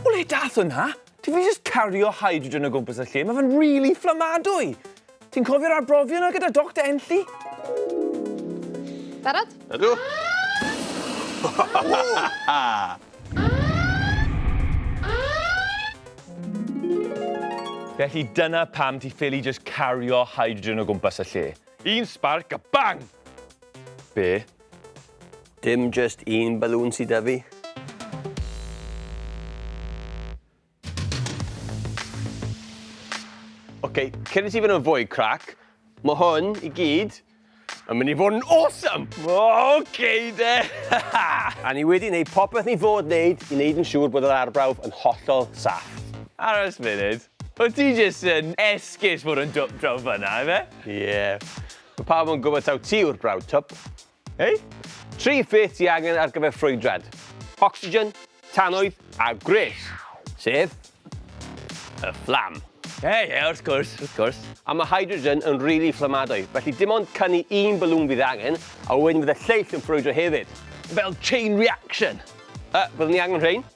O le dath hwnna? Ti fi just cario hydrogen o gwmpas y lle, mae fe'n really fflamadwy. Ti'n cofio'r arbrofion yna gyda Dr Enlli? Barod? Ydw. Felly dyna pam ti ffili just cario hydrogen o gwmpas y lle. Un sparc a bang! Be? Dim jyst un balŵn sy 'da fi. Ok, cyn i ti fynd yn fwy crac, mae hwn i gyd yn mynd i fod yn awesome! Ok de! A ni wedi gwneud popeth ni fod wneud i wneud yn siŵr bod yr arbrawf yn hollol saff. Aros munud, o ti jyst yn esgus fod yn dwp draw fyna, ife? Ie. Mae pawb yn gwybod taw ti yw'r brawd twp. Hei? Tri pheth ti angen ar gyfer ffrwydrad, ocsigen, tannoedd a gwres, sef y fflam. Ie, ie, wrth gwrs, wrth gwrs. A mae hydrogen yn rili fflamadwy, felly dim ond canu un balŵn fydd angen, a wedyn fydd y lleill yn ffrwydro hefyd. Fel chain reaction! Yy, byddwn ni angen rhein.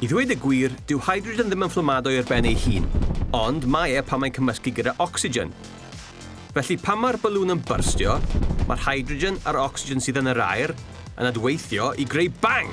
I ddweud y gwir, dyw hydrogen ddim yn fflamado ar ben ei hun, ond mae e pan mae'n cymysgu gyda ocsigen. Felly pan mae'r balŵn yn byrstio, mae'r hydrogen a'r ocsigen sydd yn yr aer yn adweithio i greu bang!